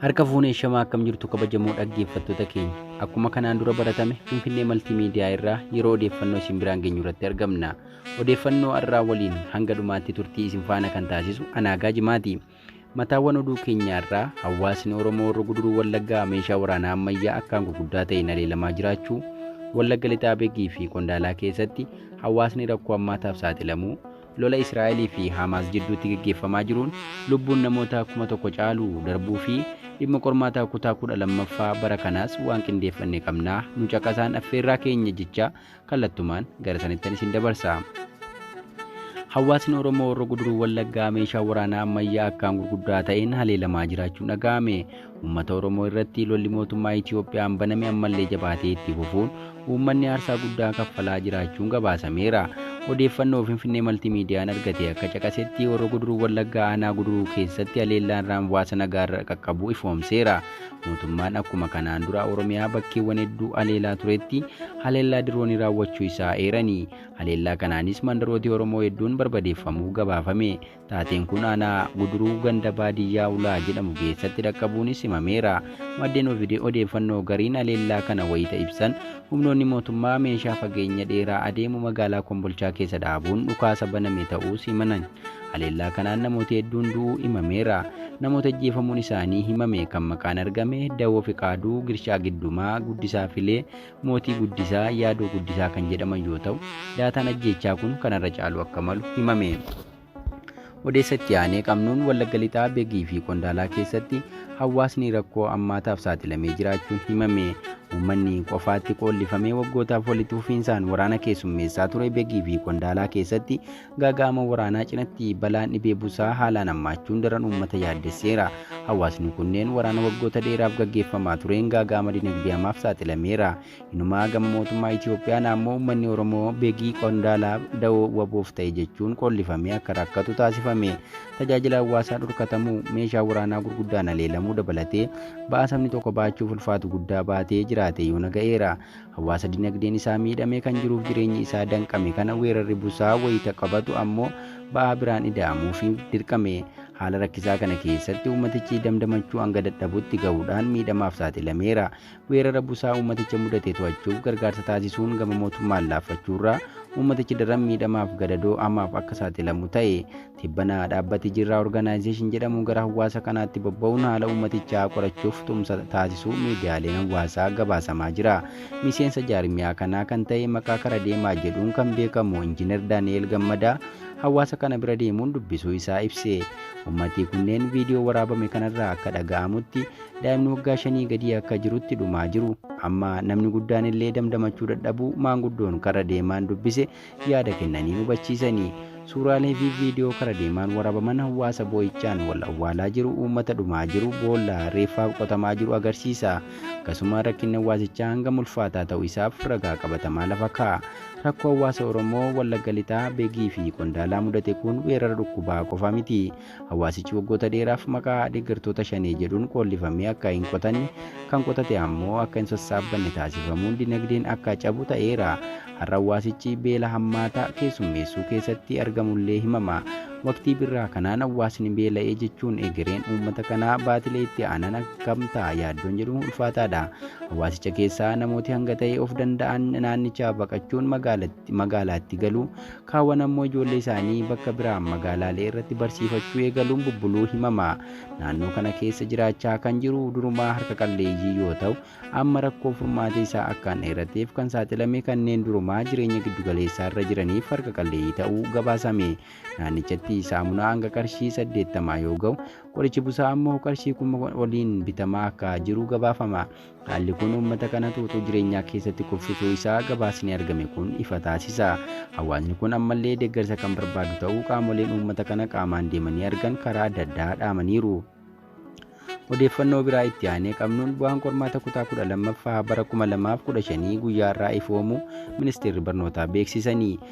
Harka fuunee shamaa akkam jirtu kabajamoo dhaggeeffattoota keenya. Akkuma kanaan dura baratame Finfinnee Maltiimiidiyaa irraa yeroo odeeffannoo isin biraan geenyu irratti argamna. Odeeffannoo har'aa waliin hanga dhumaatti turtii isin faana kan taasisu Anaagaa Jimaati. Mataawwan oduu keenya irraa hawaasni Oromoo warra guduruu Wallaggaa meeshaa waraanaa ammayyaa akkaan gurguddaa ta'een haleelamaa jiraachuu, Wallagga Lixaa Begii fi Qondaalaa keessatti hawaasni rakkoo ammaataaf saaxilamuu, Lola Israa'elii fi Haamaas jidduutti geggeeffamaa jiruun lubbuun namoota 1,000 caalu darbuu fi dhimma qormaataa kutaa 12ffaa bara kanaas waan qindeeffanne qabna, nu caqasaan affeerraa keenya jechaa kallattumaan gara sanittan isin dabarsa. Hawaasni Oromoo Horro Guduruu Wallaggaa meeshaa waraanaa ammayyaa akkaan gurguddaa ta'een haleelamaa jiraachuun dhaga'ame. Uummata Oromoo irratti lolli mootummaa Itiyoophiyaan baname ammallee jabaatee itti fufuun uummanni aarsaa guddaa kaffalaa jiraachuun gabaasameera. Odeeffannoo Finfinnee Maltiimiidiyaan argate akka caqasetti Horro Guduruu Wallaggaa aanaa Guduruu keessatti haleellaan raamwaasa nagaarra qaqqabuu ifoomseera. Mootummaan akkuma kanaan dura Oromiyaa bakkeewwan hedduu haleelaa turetti haleellaa diroonii raawwachuu isaa eeranii haleellaa kanaanis mandarooti Oromoo hedduun barbadeeffamuu gabaafame. Taateen kun aanaa Guduruu ganda baadiyyaa Ulaa jedhamu keessatti dhaqqabuunis himameera. Maddeen Ovidee odeeffannoo gariin haleellaa kana wayita ibsan, humnoonni mootummaa meeshaa fageenya dheeraa adeemu magaalaa Kombolchaa keessa dhaabuun dhukaasa baname ta'uus himan. Haleellaa kanaan namooti hedduun du'uu himameera. Namoota ajjeefamuun isaanii himame kan maqaan argame Dawoo Fiqaaduu, Girshaa Giddumaa, Guddisaa Filee, Mootii Guddisaa, Yaadoo Guddisaa kan jedhaman yoo ta'u, daataan ajjeechaa kun kana irra caaluu akka malu himame. Odeessa itti aanee qabnuun Wallagga Lixaa Begii fi Qondaalaa keessatti hawaasni rakkoo ammaataaf saaxilamee jiraachuun himame. Uummanni qofaatti qoollifamee waggootaaf walitti fufiinsaan waraana keessummeessaa ture Begii fi Qondaalaa keessatti Gaaga'ama waraanaa cinatti balaan dhibee busaa haalaan hammaachuun daran uummata yaaddesseera. Hawaasni kunneen waraana waggoota dheeraaf gaggeeffamaa tureen gaaga'ama dinagdee hamaaf saaxilameera. Inumaa gama mootummaa Itiyoophiyaan ammoo uummanni Oromoo begii qondaalaa dawoo waboof ta'e jechuun qoollifamee akka rakkatu taasifame. Tajaajila hawaasaa dhorkatamuu, meeshaa waraanaa gurguddaan haleelamuu dabalatee ba'aa sabni tokko ba'achuuf ulfaatu guddaa baatee jiraatee yoona ga'eera. Hawaasa dinagdeen isaa miidhamee kan jiruuf jireenyi isaa danqame kana weerarri busaa wayita qabatu ammoo ba'aa biraan ida'amuufi dirqame. Haala rakkisaa kana keessatti uummatichi damdamachuu hanga dadhabutti gahuudhaan miidhamaaf saaxilameera. Weerara busaa uummaticha mudate to'achuuf gargaarsa taasisuun gama mootummaan laaffachuurra uummatichi daran miidhamaaf gadadoo hamaaf akka saaxilamu ta'e. Tibbana dhaabbati Jirraa Organization jedhamu gara hawaasa kanaatti bobba'uun haala uummatichaa qorachuuf tumsa taasisuu miidiyaaleen hawaasaa gabaasamaa jira. Miseensa jaarmiyaa kanaa kan ta'e maqaa kara deemaa jedhuun kan beekamu Injiinar Daani'eel Gammadaa hawaasa kana bira deemuun dubbisuu isaa ibse. Uummatii kunneen viidiyoo waraabame kanarraa akka dhaga'amutti daa'imni waggaa shanii gadii akka jirutti dhumaa jiru. Amma namni guddaan illee damdamachuu dadhabuu maanguddoon karra deemaan dubbise yaada kennanii hubachiisani. Suuraalee fi viidiyoo kara deemaan warabaman hawwaasa boo'ichaan wal awwaalaa jiru, uummata dhumaa jiru, boolla reeffaaf qotamaa jiru agarsiisa. Akkasuma rakkinni hawwaasichaa hangam ulfaataa ta'u isaaf ragaa qabatamaa lafa kaa'a. Rakkoo hawwaasa Oromoo Wallagga Lixaa, Begii fi Qondaalaa mudate kun weerara dhukkubaa qofa miti. Hawaasichi waggoota dheeraaf maqaa deeggartoota Shanee jedhuun qoollifamee akka hin qotanne, kan qotate ammoo akka hin sassaabbanne taasifamuun dinagdeen akka cabu ta'eera. Har'a hawaasichi beela hammaataa keessummeessuu keessatti argamullee himama. Waqtii birraa kanaan hawaasni beela'ee jechuun egereen uummata kanaa baatilee itti aanan akkam ta'a yaaddoon jedhu ulfaataadha. Hawaasicha keessaa namooti hanga ta'e of danda'an naannichaa baqachuun magaalaatti galu. Kaawwan ammoo ijoollee isaanii bakka biraa magaalaalee irratti barsiifachuu eegaluun bubbuluu himama. Naannoo kana keessa jiraachaa kan jiru durumaa harka qalleeyyii yoo ta'u, amma rakkoo furmaata isaa akkaan dheerateef kan saaxilame kanneen durumaa jireenya giddugaleessaa irra jiraniif harka qalleeyyii ta'uu gabaasame. Naannichatti saamunaa hanga qarshii 80 yoo ga'u, qorichi busaa ammoo qarshii 1000 oliin bitamaa akka jiru gabaafama. Haalli kun uummata kana tuutuu jireenyaa keessatti kuffisuu isaa gabaasni argame kun ifa taasisa. Hawaasni kun ammallee deeggarsa kan barbaadu ta'uu qaamoleen uummata kana qaamaan deemanii argan karaa adda addaa dhaamaniiru. Odeeffannoo biraa itti aanee qabnuun bu'aan qormaata kutaa 12ffaa bara 2015 guyyaa har'aa ifoomu ministeerri barnootaa beeksisanii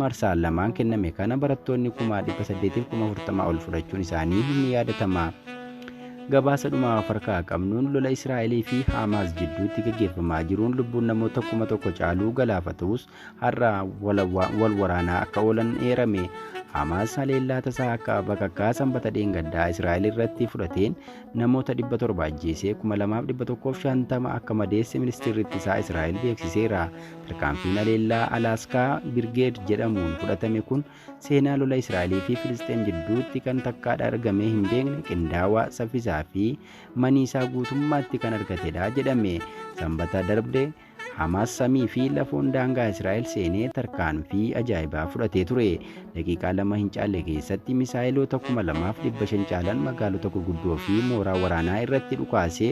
Marsaa lamaan kenname kana barattoonni kumaa 800f kuma 40 ol fudhachuun isaanii ni yaadatama. Gabaasa dhumaa of harkaa qabnuun lola Israa'elii fi Haamaas jidduutti gaggeeffamaa jiruun lubbuun namoota kuma tokko caaluu galaafatus har'a wal waraanaa akka oolan eerame. Haamaas haleellaa tasaa akka bakakkaa sanbata dheengaddaa Israa'el irratti fudhateen namoota 700 ajjeesee 2150 akka madeesse ministeerri ittisaa Israa'el beeksiseera. Tarkaanfiin haleellaa Alaaskaa Birgeed jedhamuun fudhatame kun seenaa lola Israa'elii fi Filisxeem jidduutti kan takkaadha argamee hin beekne qindaawaa, saffisaa fi maniisaa guutummaatti kan argatedha jedhame. Sanbata darbe Hamaas samii fi lafoon daangaa Israa'el seenee tarkaanfii ajaa'ibaa fudhatee ture. Daqiiqaa lama hin caalle keessatti misaayeloota 2,500 caalan magaalota gurguddoo fi mooraa waraanaa irratti dhukaasee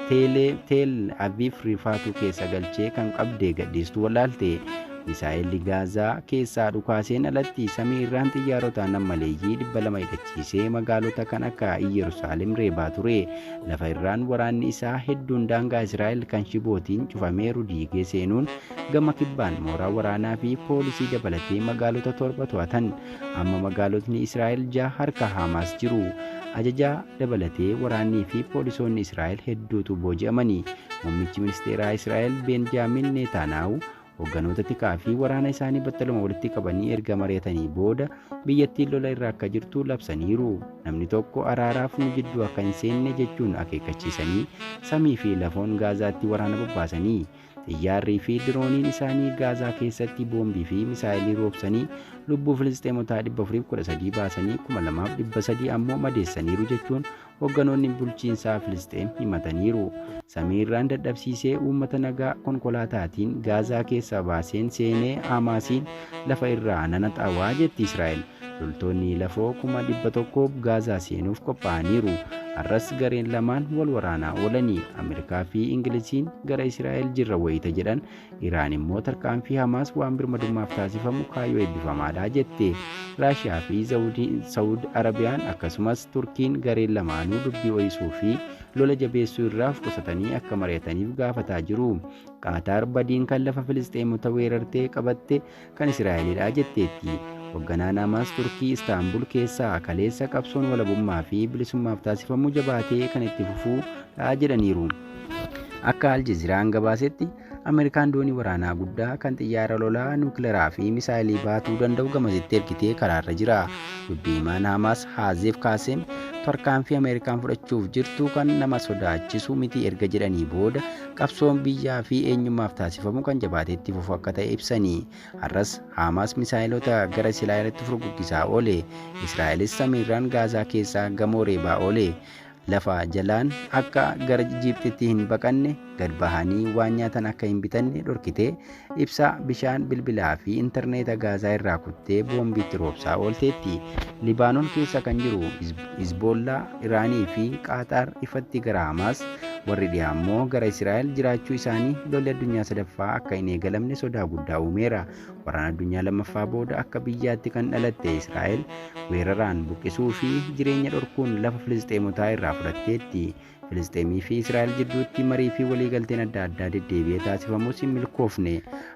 teelee Teel Aviif rifaatuu keessa galchee kan qabdee gadhiistu wallaalte. Misaayelli Gaazaa keessaa dhukaaseen alatti samii irraan xiyyaarotaan nammaleeyyii 200 hidhachiisee magaalota kan akka Iyyerusaalem reebaa ture. Lafa irraan waraanni isaa hedduun daangaa Israa'el kan shibootiin cufameeru diigee seenuun gama kibbaan mooraa waraanaa fi poolisii dabalatee magaalota torba to'atan. Amma magaalotni Israa'el jaha harka Haamaas jiru. Ajajaa dabalatee waraannii fi poolisoonni Israa'el hedduutu booji'amani. Muummichi ministeeraa Israa'el Beenjaamin Neetaanaawu hogganoota tikaa fi waraana isaanii battaluma walitti qabanii erga mari'atanii booda biyyattiin lola irra akka jirtu labsaniiru. Namni tokko araaraaf nu jidduu akka hin seenne jechuun akeekkachiisanii samii fi lafoon Gaazaatti waraana bobbaasanii Xiyyaarrii fi dirooniin isaanii Gaazaa keessatti boombii fi misaa'elii roobsanii lubbuu Filisxeemotaa 413 baasanii 2,300 ammoo madeessaniiru jechuun hoogganoonni bulchiinsaa Filisxeem himataniiru. Samiirraan dadhabsiisee uummata nagaa konkolaataatiin Gaazaa keessaa baaseen seenee Haamaasiin lafa irraa nana xawaa jetti Israa'el. Loltoonni lafoo kuma 100 Gaazaa seenuuf qophaa'aniiru. Har'as gareen lamaan wal waraanaa oolani. Ameerikaa fi Ingiliziin gara Israa'el jirra wayita jedhan, Iraan immoo tarkaanfii Hamaas waan birmadummaaf taasifamu kaayyoo eebbifamaadha jette. Raashiyaa fi Sawud Arabiyaan akkasumas Turkiin gareen lamaanuu dubbii ho'isuu fi lola jabeessuu irraa of qusatanii akka mari'ataniif gaafataa jiru. Qaataar badiin kan lafa Filisxeemota weerartee qabatte kan Israa'elidha jetteetti. Hogganaan Hamaas Turkii Istaanbul keessaa kaleessa qabsoon walabummaa fi bilisummaaf taasifamu jabaatee kan itti fufuu dha jedhaniiru. Akka Al Jazeeraan gabaasetti Ameerikaan doonii waraanaa guddaa kan xiyyaara lolaa nuukilaraa fi misaayilii baatuu danda'u gamasitti ergitee karaarra jira. Dubbii himaan Hamaas Haazeef Kaaseem tarkaanfii Ameerikaan fudhachuuf jirtu kan nama sodaachisu miti erga jedhanii booda qabsoon biyyaa fi eenyummaaf taasifamu kan jabaatee itti fufu akka ta'e ibsanii har'as Haamaas misaa'eloota gara Israa'elitti furguggisaa oole Israa'elis samiirraan Gaazaa keessaa gamoo reebaa oole lafa jalaan akka gara Ijiiptitti hin baqanne gad bahanii waan nyaatan akka hin bitanne dhorkitee Ibsaa, bishaan, bilbilaa fi intarneeta Gaazaa irraa kuttee boombii itti roobsaa oolteetti. Libaanon keessa kan jiru Hizboollaa, Iraanii fi Qaataar ifatti gara Hamaas, warri dhiyaa immoo gara Israa'el jiraachuu isaanii lolli addunyaa sadaffaa akka hin eegalamne sodaa guddaa uumeera. Waraana addunyaa lammaffaa booda akka biyyaatti kan dhalatte Israa'el weeraraan buqqisuu fi jireenya dhorkuun lafa Filisxeemotaa irraa fudhatteetti. Filisxeemii fi Israa'el jidduutti marii fi waliigalteen adda addaa deddeebi'ee taasifamus hin milkoofne.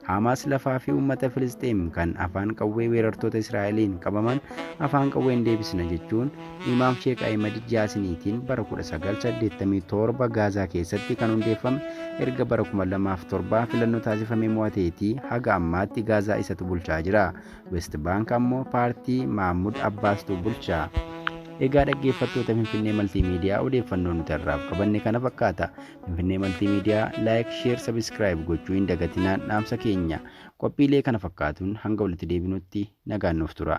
Haamaas lafaa fi uummata Filisxeem kan afaan qawwee weerartoota Israa'eliin qabaman afaan qawween deebisna jechuun Imaam Sheek Ahimad Jaasiniitiin bara 1987 Gaazaa keessatti kan hundeeffame erga bara 2007 filannoo taasifamee mo'ateetii haga ammaatti Gaazaa isatu bulchaa jira. West Baank ammoo paartii Maamud Abbaastu bulcha. Egaa dhaggeeffattoota Finfinnee Maltiimiidiyaa odeeffannoo nuti har'aaf qabanne kana fakkaata. Finfinnee Maltiimiidiyaa laayik, sheer, sabiskiraayib gochuu hin dagatinaan dhaamsa keenya. Qophiilee kana fakkaatuun hanga walitti deebinutti nagaan nuuf tura.